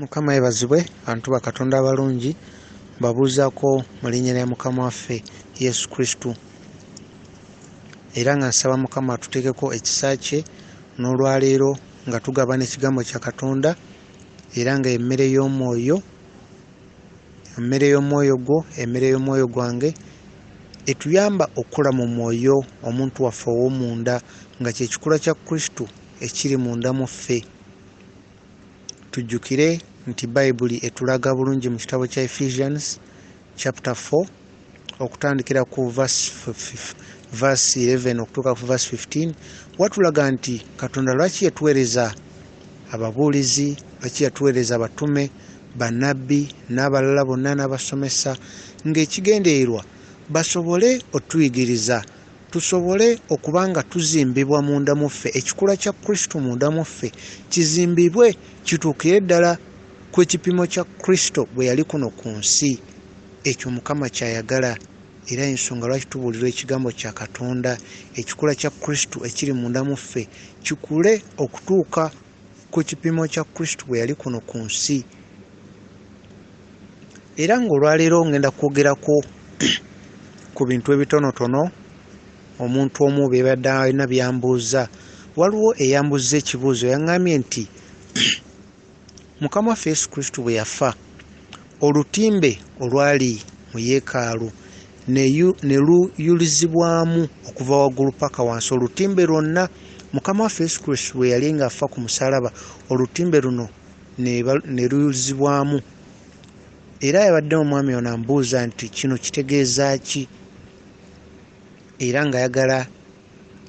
Mukama yebazibwe bantu bakatonda abalungi mbabuuzako mu linnya lya mukama waffe yesu kristu era nga nsaba mukama atuteekeko ekisa kye n'olwaleero nga tugabana ekigambo kya katonda era nga emmere y'omwoyo emmere y'omwoyo gwo emmere y'omwoyo gwange etuyamba okukula mu mwoyo omuntu waffe ow'omunda nga kyekikula kya kristu ekiri munda mu ffe tujjukire nti bayibuli etulaga bulungi mu kitabo kya ephesians chapter 4 okutandikira ku verse 11 okutuuka ku verse 15 watulaga nti katonda lwaki yatuweereza ababuulizi lwaki yatuweereza abatume banabbi n'abalala bonna n'abasomesa ng'ekigendererwa basobole otuyigiriza tusobole okuba nga tuzimbibwa munda mu ffe ekikula kya kristo munda mu ffe kizimbibwe kituukire ddala ku ekipimo kya kristo bwe yali kuno ku nsi ekyo mukama kyayagala era ensonga lwaki tubuulirwa ekigambo kya katonda ekikula kya kristo ekiri munda mu ffe kikule okutuuka ku kipimo kya kristo bwe yali kuno ku nsi era ng'olwaleero ngenda kwogerako ku bintu ebitonotono omuntu omu bebadde alina byambuuza waliwo eyambuuza ekibuuzo yaŋambye nti mukama waffe yesu kristo bwe yafa olutimbe olwali mu yeekaalu ne luyulizibwamu okuva waggulu paka wansi olutimbe lwonna mukama waffe yesu kristu bwe yali ng'afa ku musalaba olutimbe luno ne luyulizibwamu era yabadde omwami ono ambuuza nti kino kitegeeza ki era ng'ayagala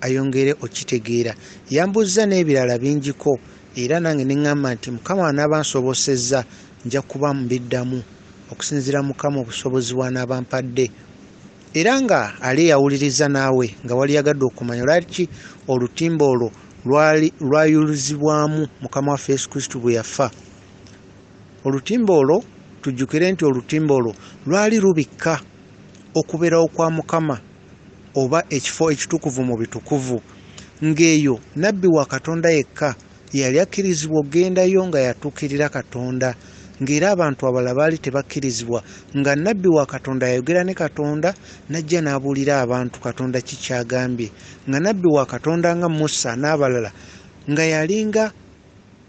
ayongere okitegeera yambuzza n'ebirala bingiko era nange neŋŋamba nti mukama anaaba nsobosezza nja kuba mbiddamu okusinziira mukama obusobozi bwanaaba mpadde era nga ali eyawuliriza naawe nga wali yagadde okumanya lwaki olutimba olwo lwayulizibwamu mukama waffe yesu kristu bwe yafa olutimba olwo tujjukire nti olutimba olwo lwali lubikka okubeerawo kwa mukama oba ekifo ekitukuvu mu bitukuvu ng'eyo nabbi wa katonda yekka yeyali akkirizibwa okugendayo nga yatuukirira katonda ng'era abantu abalala baali tebakkirizibwa nga nabbi wa katonda yayogera ne katonda n'ajja n'abuulira abantu katonda ki kyagambye nga nabbi wa katonda nga musa n'abalala nga yalinga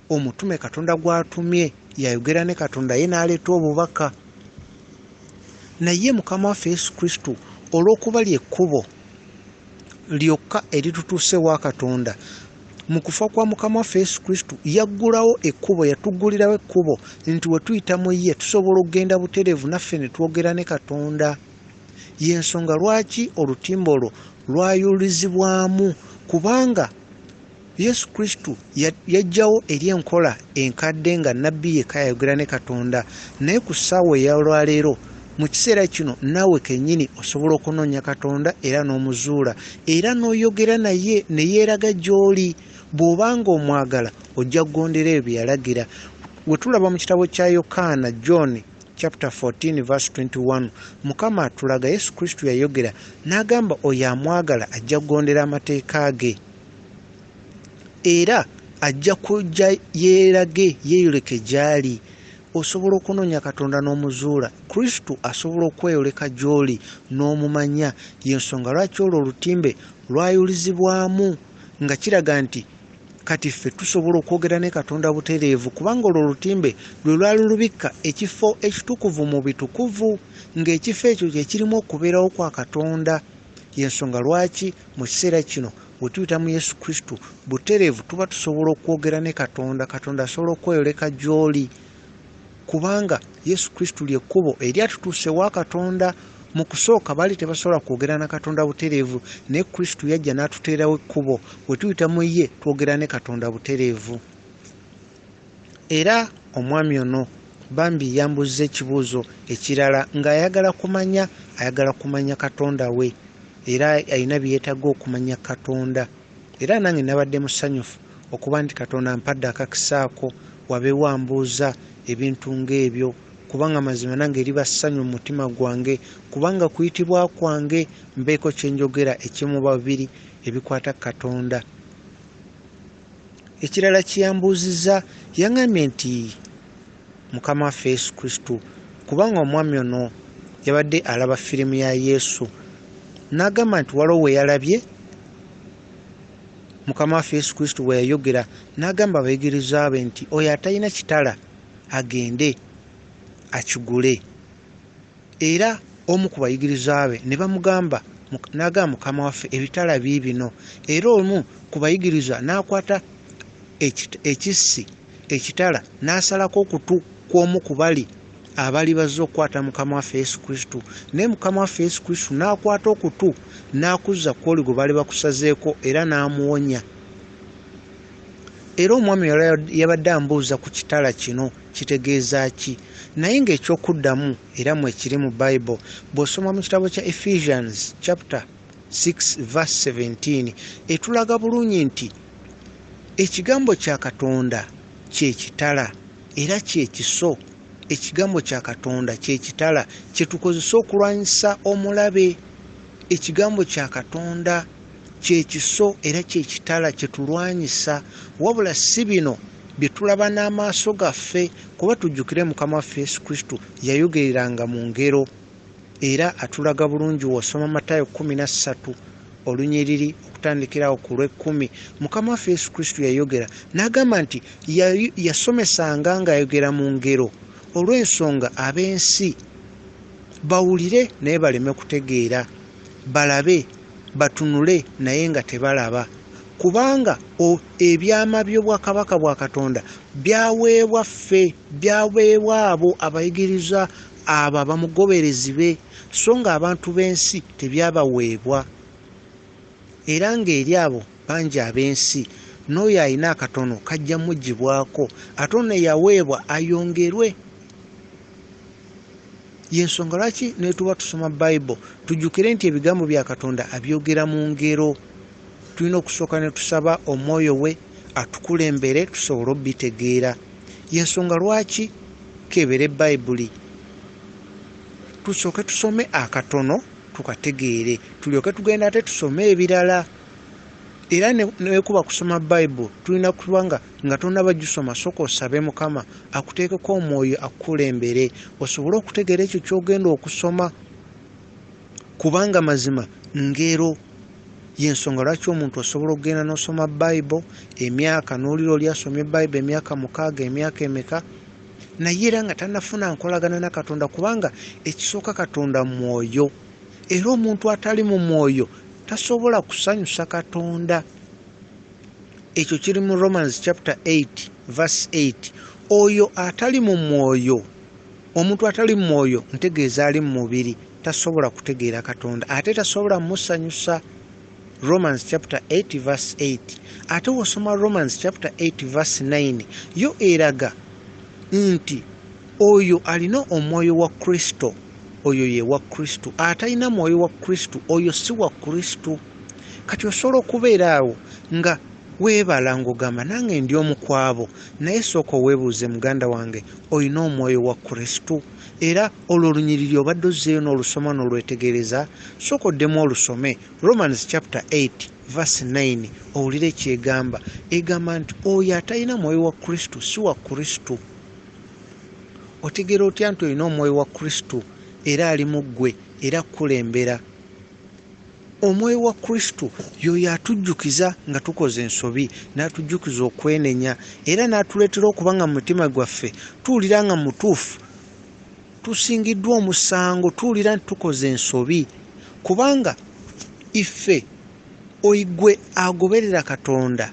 omutume katonda gwatumye yayogera ne katonda ye n'aleeta obubaka naye mukama waffe yesu kristo olw'okuba lyekkubo lyokka eritutuuse wa katonda mu kufa kwa mukama waffe yesu kristo yaggulawo ekkubo yatuggulirawo ekkubo nti we tuyita mu ye tusobola okugenda butereevu naffe ne twogera ne katonda y'ensonga lwaki olutimba olwo lwayulizibwamu kubanga Yesu Kristo yajjawo eri enkola enkadde nga nnabbi yekka yayogera ne Katonda, naye ku ssaawa ey'olwaleero mu kiseera kino naawe kennyini osobola okunoonya Katonda era n'omuzuula era n'oyogera naye ne yeeraga gy'oli bw'oba ng'omwagala ojja kugondera ebyo bye yalagira we tulaba mu kitabo kya yokaana john chapter 14 verse 21 mukama atulaga yesu kristo yayogera n'agamba oyo amwagala ajja kugondera amateeka ge era ajja kujja yeerage yeeyoleke gy'ali osobola okunoonya katonda n'omuzuula kristo asobola okweyoleka gy'oli n'omumanya y'ensonga lwaki olwo olutimbe lwayulizibwamu nga kiraga nti kati ffe tusobola okwogera ne katonda butereevu kubanga olwo olutimbe lwe lwali lubikka ekifo ekitukuvu mu bitukuvu ng'ekifo ekyo kye kirimu okubeerawo kwa katonda Y'ensonga lwaki mu kiseera kino bwe tuyita mu Yesu Kristo butereevu tuba tusobola okwogera ne Katonda, Katonda asobola okweyoleka gy'oli kubanga Yesu Kristo lye kkubo eryatutuusa ewa Katonda. Mu kusooka baali tebasobola kwogera na Katonda butereevu, naye Kristo yajja n'atuteerawo ekkubo. Bwe tuyita mu ye twogera ne Katonda butereevu. Era omwami ono bambi yambuzza ekibuuzo ekirala ng'ayagala kumanya ayagala kumanya katonda we era alina byeyetaaga okumanya katonda era nange nabadde musanyufu okuba nti katonda ampadde akakisaako wabeewo ambuuza ebintu ng'ebyo kubanga mazima nange eriba ssanyu mu mutima gwange kubanga kuyitibwa kwange mbeeko kye njogera ekimu babiri ebikwata ku katonda ekirala kyeyambuuzizza yangambye nti mukama waffe yesu kristo kubanga omwami ono yabadde alaba firimu ya yesu n'agamba nti waliwo we yalabye mukama waffe yesu kristo bwe yayogera n'agamba abayigiriza be nti oyo atalina kitala agende akigule Era omu ku bayigirizwa be ne bamugamba n'agamba mukama waffe ebitala biibino era omu ku bayigirizwa n'akwata ekissi ekitala n'asalako okutu kw'omu ku bali abali bazze okukwata mukama waffe yesu kristo naye mukama waffe yesu kristo n'akwata okutu n'akuzza kwoli gwe baali bakusazeeko era n'amuwonya era omwami yabadde ambuuza ku kitala kino kitegeeza ki naye ng'ekyokuddamu era mwekiri mu bible bw'osoma mu kitabo kya ephesians chapter 6 verse 17 etulaga bulungi nti ekigambo kya katonda kyekitala era kyekiso ekigambo kya katonda kyekitala kyetukozesa okulwanyisa omulabe ekigambo kya katonda Ky'ekiso era ky'ekitala kye tulwanyisa, wabula si bino bye tulaba n'amaaso gaffe, kuba tujjukire Mukama waffe Yesu Kristo yayogereranga mu ngero, era atulaga bulungi w'osoma Matayo kkumi na ssatu olunyiriri okutandikira awo ku lw'ekkumi, Mukama waffe Yesu Kristo yayogera n'agamba nti yasomesanga ng'ayogera mu ngero olw'ensonga ab'ensi bawulire naye baleme kutegeera, balabe. batunule naye nga tebalaba kubanga ebyama by'obwakabaka bwa katonda byaweebwa ffe byaweebwa abo abayigiriza abo abamugoberezi be so nga abantu b'ensi tebyabaweebwa era ng'eri abo bangi ab'ensi n'oyo alina akatono kajja mugibwako ate ono eyaweebwa ayongerwe yensonga lwaki netuba tusoma bible tujjukire nti ebigambo bya katonda abyogera mu ngero tulina okusooka ne tusaba omwoyo we atukulembere tusobole obitegeera yensonga lwaki kebere bayibuli tusooke tusome akatono tukategeere tulyoke tugenda ate tusome ebirala era nekuba kusoma bible tulina kuba nga nga tonaba gisoma soka osabe mukama akuteekeko omwoyo akukulembere osobole okutegeera ekyo kyogenda okusoma kubanga mazima ngero yensonga lwaki omuntu osobola okugenda nosoma bible emyaka nolira oli asomye bible emyaka mukaaga emyaka emeka naye era nga tanafuna nkolagana na katonda kubanga ekisooka katonda mwoyo era omuntu atali mu mwoyo tasobola kusanyusa katonda ekyo kiri mu romans chapter 8 vers 8 oyo atali mu mwoyo omuntu atali mu mwoyo ntegeeza ali mu mubiri tasobola kutegeera katonda ate tasobola musanyusa Romans chapter 8 verse 8 ate wosoma Romans chapter 8 verse 9 yo eraga nti oyo alina omwoyo wa Kristo oyo ye wa Kristo atalina mwoyo wa Kristo oyo si wa Kristo kati osobola okubeera awo nga weebala ng'ogamba nange ndi omu kwabo naye sooka oweebuuze muganda wange olina omwoyo wa Kristo era olwo olunyiriri obadde ozzeeyo n'olusoma n'olwetegereza sooka oddemu olusome romans chapter 8 verse 9 owulire kyegamba egamba nti oyo atalina mwoyo wa kristo si wa kristo otegeera otya nti olina omwoyo wa kristo era ali mu ggwe era kukulembera omwoyo wa kristo yoyo atujjukiza nga tukoze ensobi n'atujjukiza okwenenya era n'atuleetera okuba nga mu mutima gwaffe tuwulira nga mutuufu tusingiddwa omusango tuwulira nti tukoze ensobi kubanga iffe oigwe agoberera katonda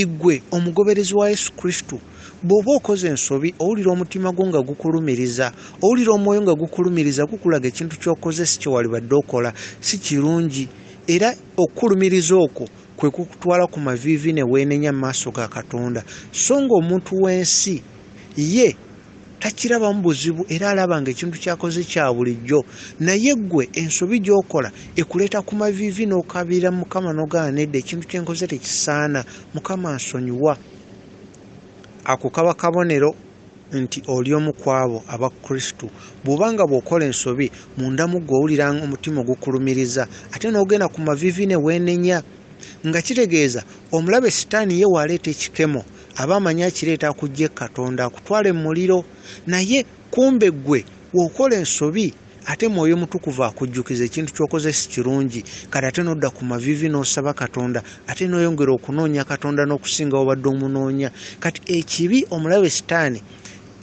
Igwe omugoberezi wa Yesu Kristo bw'oba okoze ensobi owulira omutima gwo nga gukulumiriza owulira omwoyo nga gukulumiriza gukulaga ekintu ky'okoze si kye walibadde okola si kirungi era okukulumiriza okwo kwe kukutwala ku maviivi ne weenenya mu maaso ga katonda so ng'omuntu w'ensi ye takirabamu buzibu era alaba nga ekintu kyakoze kya bulijjo naye ggwe ensobi gyokola ekuleeta ku maviivi n'okabiira mukama nogaana nedda ekintu kyenkoze tekisaana mukama nsonyiwa ako kaba kabonero nti oli omu kwabo aba kristu bw'oba nga bw'okola ensobi munda mu gwe owulira omutima ogukulumiriza ate n'ogenda ku maviivi ne weenenya nga kitegeeza omulabe sitaani ye waaleeta ekikemo aba amanyi akireeta kujje katonda akutwale mu muliro naye kumbe ggwe wokola ensobi ate mwoyo mutukuvu akujjukiza ekintu kyokoze si kirungi kati ate nodda ku mavivi n'osaba katonda ate noyongera okunoonya katonda n'okusinga obadde omunoonya kati ekibi omulabe sitaani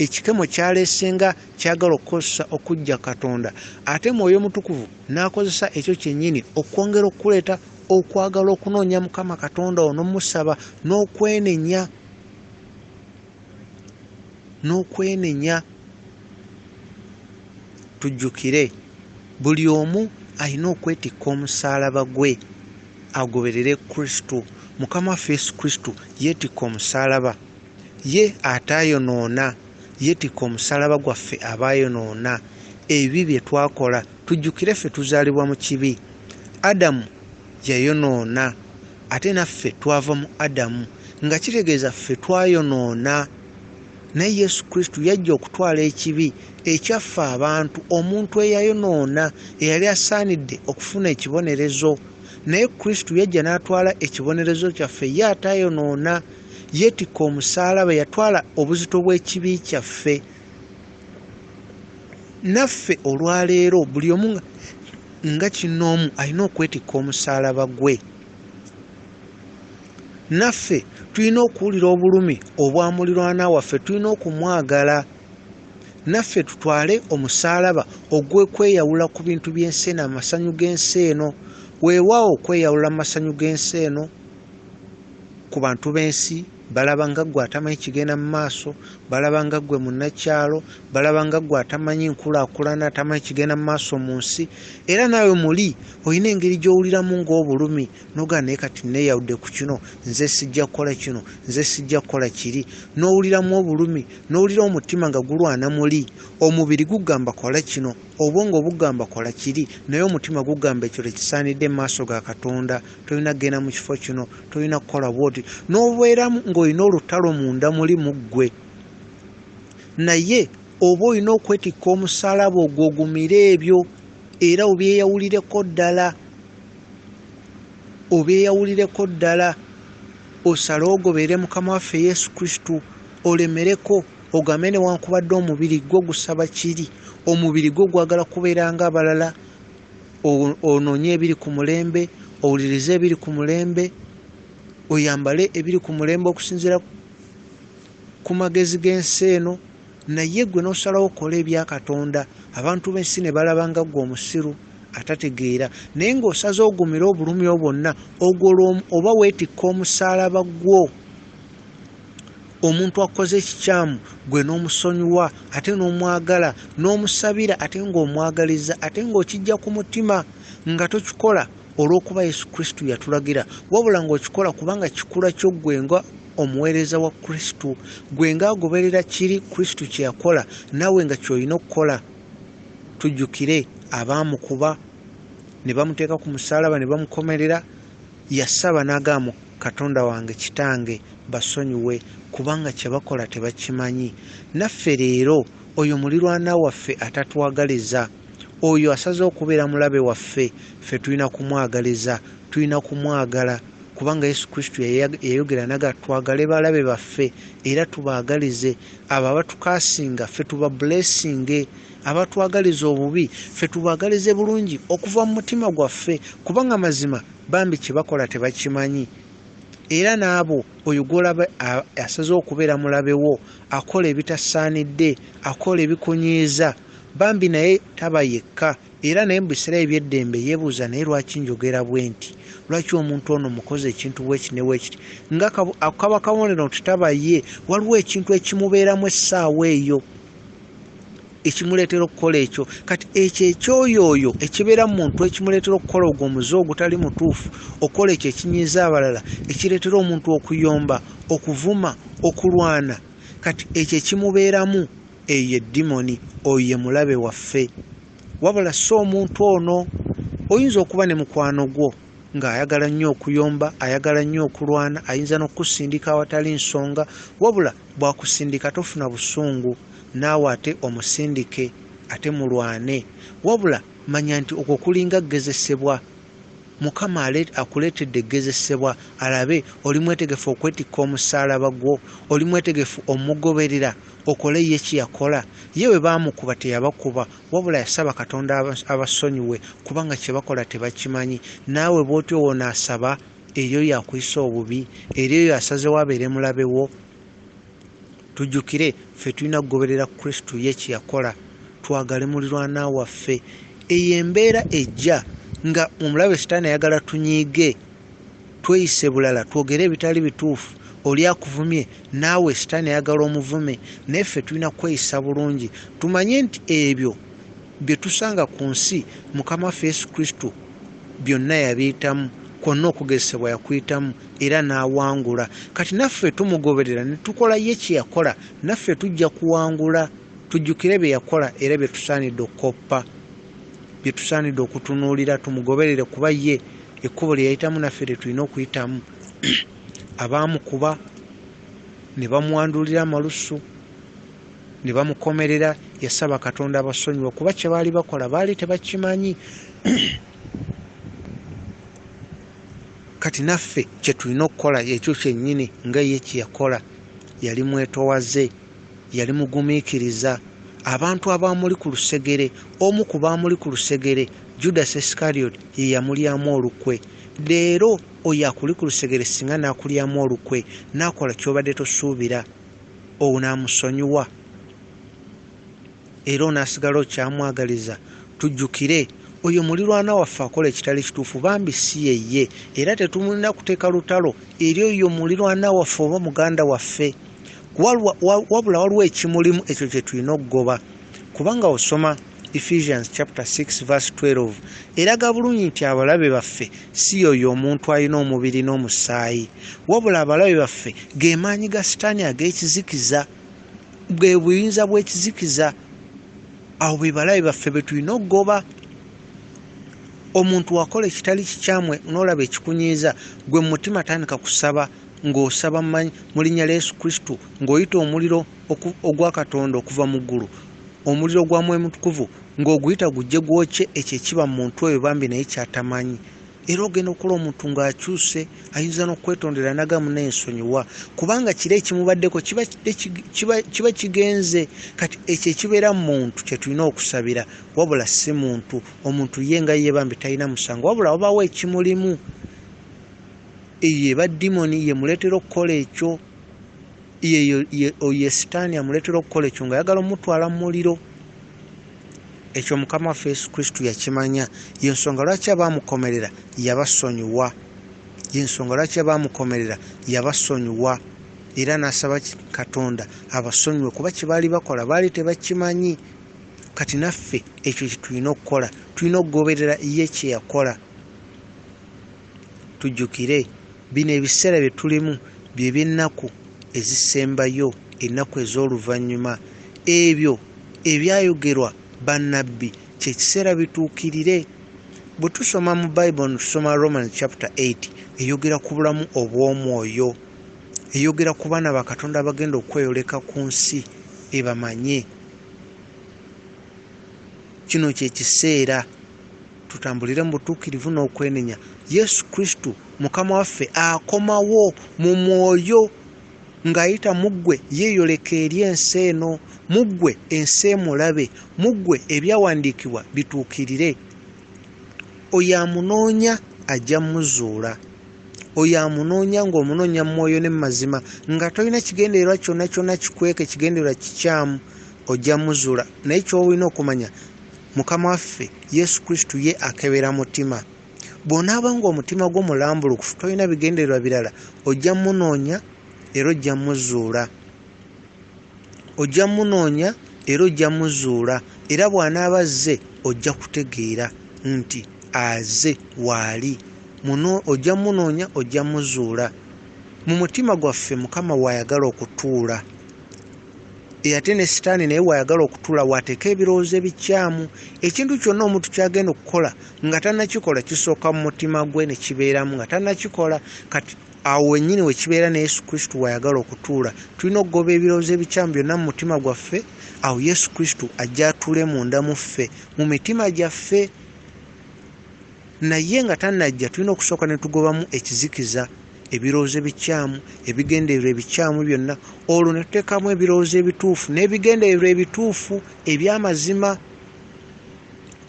ekikemo kyaleesenga kyagala okukozesa okujja katonda ate mwoyo mutukuvu n'akozesa ekyo kyennyini okwongera okukuleeta okwagala okunoonya mukama katonda wo nomusaba nokwenenya nokwenenya tujjukire buli omu alina okwetikka omusaalaba gwe agoberere kristo mukama waffe yesu kristo yeetikka omusaalaba Ye ataayonoona yeetikka omusalaba gwaffe abaayonoona, ebibi bye twakola. Tujjukire ffe tuzaalibwa mu kibi. Adamu yayonoona ate naffe twava mu Adamu nga kitegeeza ffe twayonoona. Naye Yesu Kristo yajja okutwala ekibi ekyaffe abantu, omuntu eyayonoona, eyali asaanidde okufuna ekibonerezo. Naye Kristo yajja n'atwala ekibonerezo kyaffe ye ataayonoona. yeetikka omusaalaba yatwala obuzito bw'ekibi kyaffe naffe olwaleero buli omu nga kinoomu alina okwetikka omusaalaba gwe naffe tulina okuwulira obulumi obwa mulirwana waffe tulina okumwagala naffe tutwale omusaalaba ogw'okweyawula ku bintu by'ensi eno amasanyu g'ensi eno weewaawo okweyawula mu masanyu g'ensi eno ku bantu b'ensi balaba nga ggwe atamanyi kigenda mu maaso balaba nga ggwe munnakyalo balaba nga ggwe atamanyi nkulaakulana atamanyi kigenda mu maaso mu nsi era naawe muli olina engeri gy'owuliramu ng'obulumi nogaa naye kati neeyawudde ku kino nze sijja kukola kino nze sijja kukola kiri n'owuliramu obulumi n'owulira omutima nga gulwana muli omubiri gugamba kola kino obwongo bugamba kola kiri naye omutima gugamba ekyo tekisaanidde mu maaso ga katonda tolina kugenda mu kifo kino tolina kukola bwoti n'obeera ng'olina olutalo munda muli mu ggwe naye oba olina okwetikka omusalaba ogwo ogumire ebyo era obyeyawulireko ddala obyeyawulireko ddala osale ogobeere mukama waffe yesu kristu olemereko ogambe newankubadde omubiri gwo gusaba kiri omubiri gwo gwagala kubeera nga abalala ononye ebiri ku mulembe owulirize ebiri ku mulembe oyambale ebiri ku mulembe okusinzira ku magezi g'ensi eno naye gwe nosalawo okola ebya katonda abantu b'ensi ne balaba nga gwe omusiru atategeera naye ng'osaze ogumire obulumi obwonna ogolwa oba weetikka omusaalaba gwo omuntu akoze ekikyamu gwe n'omusonyiwa ate n'omwagala n'omusabira ate ng'omwagaliza ate ng'okijja ku mutima nga tokikola olw'okuba yesu kristo yatulagira wabula ng'okikola kubanga kikula kyo gwe nga omuweereza wa kristo gwe nga agoberera kiri kristo kye yakola naawe nga ky'olina okukola tujjukire abaamukuba ne bamuteeka ku musaalaba ne bamukomerera yasaba n'agaamu Katonda wange kitange basonyiwe kubanga kyebakola tebakimanyi naffe leero oyo mulirwana waffe atatwagaliza oyo asaze okubeera mulabe waffe ffe tulina kumwagaliza tulina kumwagala kubanga yesu kristo yayogera naga twagale balabe baffe era tubaagalize abo abatukasinga ffe tuba bulesinge abatwagaliza obubi ffe tubaagalize bulungi okuva mu mutima gwaffe kubanga mazima bambi kyebakola tebakimanyi era naabo oyo gwolaba asaze okubeera mulabewo akola ebitasaanidde akola ebikunyiiza bambi naye taba yekka era naye mubiseera ebyeddembe yebuuza naye lwaki njogera bwe nti lwaki omuntu ono mukoze ekintu wekinewekiti nga kaba kabonero nti taba ye waliwo ekintu ekimubeeramu essaawa eyo ekimuleetera okukola ekyo kati ekyo ekyoyo oyo ekibeera mu muntu ekimuleetera okukola ogwo omuze ogutali mutuufu okukola ekyo ekinyiiza abalala ekireetera omuntu okuyomba okuvuma okulwana kati ekyo ekimubeeramu eyo ye dimoni oyo ye mulabe waffe wabula si omuntu ono oyinza okuba ne mukwano gwo ng'ayagala nnyo okuyomba ayagala nnyo okulwana ayinza n'okukusindika awatali nsonga wabula bwakusindika tofuna busungu naawe ate omusindike ate mulwane wabula manya nti okwo kulinga kugezesebwa mukama akuleetedde kugezesebwa alabe oli mwetegefu okwetikka omusaalaba gwo oli mwetegefu omugoberera okole ye kyeyakola ye bwe baamukuba teyabakuba wabula yasaba katonda abasonyiwe kubanga kye bakola tebakimanyi naawe bw'otyo woonaasaba eri oyo akuyisa obubi eri oyo asazewo abeere mulabe wo Tujjukire, ffe tulina kugoberera Kristo ye kye yakola, twagale mulirwana waffe. Eyo embeera ejja nga omulabe Sitaani ayagala tunyiige, tweyise bulala, twogere ebitali bituufu. Oli akuvumye, naawe Sitaani ayagala omuvume. Naye ffe tulina kweyisa bulungi, tumanye nti ebyo Bye tusanga ku nsi, Mukama waffe Yesu Kristo byonna yabiyitamu, kwonna okugezesebwa yakuyitamu era n'awangula. Kati naffe tumugoberera ne tukola ye kye yakola, naffe tujja kuwangula. Tujjukire bye yakola era bye tusaanidde okukoppa, bye tusaanidde okutunuulira tumugoberere kuba ye ekkubo lye yayitamu naffe lye tulina okuyitamu. Abaamukuba ne bamwandulira amalusu. ne bamukomerera yasaba katonda abasonyiwa kuba kye baali bakola baali tebakimanyi kati naffe kye tulina okukola ekyo kyennyini nga ye kye yakola yali mwetowaze yali mugumiikiriza abantu abaamuli ku lusegere omu ku baamuli ku lusegere judas iscariot ye yamulyamu olukwe leero oyo akuli ku lusegere singa n'akulyamu olukwe n'akola ky'obadde tosuubira onaamusonyiwa era onaasigala okyamwagaliza tujjukire oyo mulirwana waffe akola ekitali kituufu bambi si yeye era tetumulina kuteeka lutalo eri oyo mulirwana waffe oba muganda waffe wabula waliwo ekimulimu ekyo kye tulina okugoba kubanga osoma ephesians chapter 6 verse 12 eraga bulungi nti abalabe baffe si yoyo omuntu alina omubiri n'omusaayi wabula abalabe baffe gemaanyi ga sitaani ag'ekizikiza bwe buyinza bw'ekizikiza awo be balabe baffe be tulina okugoba omuntu wakola ekitali kikyamwe n'olaba ekikunyiiza gwe mu mutima tandika kusaba ng'osaba manyi mu linnya lya yesu kristo ng'oyita omuliro ogwa Katonda okuva mu ggulu, omuliro gwa Mwoyo Mutukuvu, ng'oguyita gujje gwokye ekyo ekiba mu muntu oyo bambi naye ky'atamanyi. Era ogenda okukola omuntu ng'akyuse, ayinza n'okwetondera n'agamba munne nsonyiwa, kubanga kiro ekimubaddeko kiba kigenze. Kati ekyo ekibeera mu muntu kye tulina okusabira, wabula si muntu. Omuntu ye nga ye bambi talina musango, wabula wabaawo ekimulimu. Eyo eba dimoni, y'emuleetera okukola ekyo. oyo sitaani amuleetera okukola ekyo nga ayagala omutwala mu muliro ekyo mukama waffe yesu kristo yakimanya yensonga lwaki abaamukomerera yabasonyiwa yensonga lwaki abaamukomerera yabasonyiwa era n'asaba katonda abasonyiwe kuba kye baali bakola baali tebakimanyi kati naffe ekyo kyetulina okukola tulina okugoberera ye kyeyakola Tujjukire, bino ebiseera bye tulimu bye by'ennaku ezisembayo, ennaku ez'oluvannyuma. Ebyo ebyayogerwa bannabbi kye kiseera bituukirire. Bwe tusoma mu Bayibuli, ne tusoma Romans chapter 8, eyogera ku bulamu obw'omwoyo, eyogera ku baana ba Katonda abagenda okweyoleka ku nsi ebamanye. Kino kye kiseera. tutambulire mu butuukirivu n'okwenenya yesu kristo mukama waffe akomawo mu mwoyo ng'ayita mu ggwe yeeyoleka eri ensi eno mu ggwe ensi emulabe mu ggwe ebyawandiikibwa bituukirire oyo amunoonya ajja muzuula oyo amunoonya ng'omunoonya mu mwoyo ne mu mazima nga tolina kigendererwa kyonna kyonna kikweka ekigendererwa kikyamu ojja muzuula naye ky'olina okumanya mukama waffe yesu kristu ye akebera mutima bw'onaaba ng'omutima gwo mulambulukufu tolina bigendererwa birala ojja munoonya era ojja muzuula ojja munoonya era ojja muzuula era bw'anaaba azze ojja kutegeera nti aze waali muno ojja munoonya ojja muzuula mu mutima gwaffe mukama waayagala okutuula E, ate ne sitaani naye wayagala okutula wateeka ebirowoozo ebikyamu ekintu kyonna omuntu kyagenda okukola nga tanakikola kisooka mu mutima gwe ne kibeeramu nga tanakikola kati awo wenyini wekibeera ne yesu kristu wayagala okutuula tulina okugoba ebirowoozo ebikyamu byonna mu mutima gwaffe awo yesu kristu ajja atule munda mu ffe mu mitima gyaffe Naye nga tanajja tulina okusooka ne tugobamu ekizikiza, ebirowoozo ebikyamu, ebigendererwa ebikyamu byonna, olwo ne tuteekamu ebirowoozo ebituufu n'ebigendererwa ebituufu eby'amazima.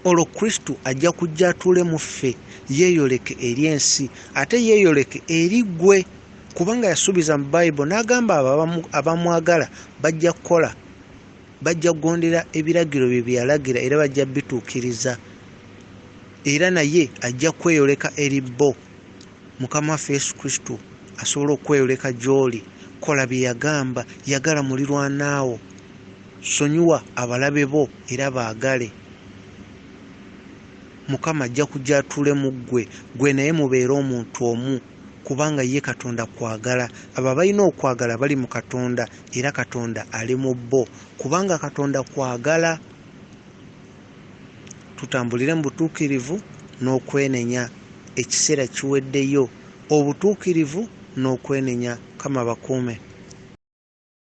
Olwo Kristo ajja kujja atuule mu ffe, yeeyoleke eri ensi, ate yeeyoleke eri ggwe, kubanga yasuubiza mu Bayibo n'agamba abo abamwagala bajja kukola. Bajja kugondera ebiragiro bye bye yalagira era bajja kubituukiriza, era naye ajja kweyoleka eri bo, Mukama waffe Yesu Kristo asobola okweyoleka gy'oli. Kola bye yagamba. Yagala mulirwana wo. Sonyiwa abalabe bo era baagale. Mukama ajja kujja atuule mu ggwe, ggwe naye mubeere omuntu omu. kubanga ye katonda kwagala abo abalina okwagala bali mu katonda era katonda ali mu bo kubanga katonda kwagala tutambulire mu butuukirivu n'okwenenya ekiseera kiweddeyo obutuukirivu n'okwenenya kama bakuume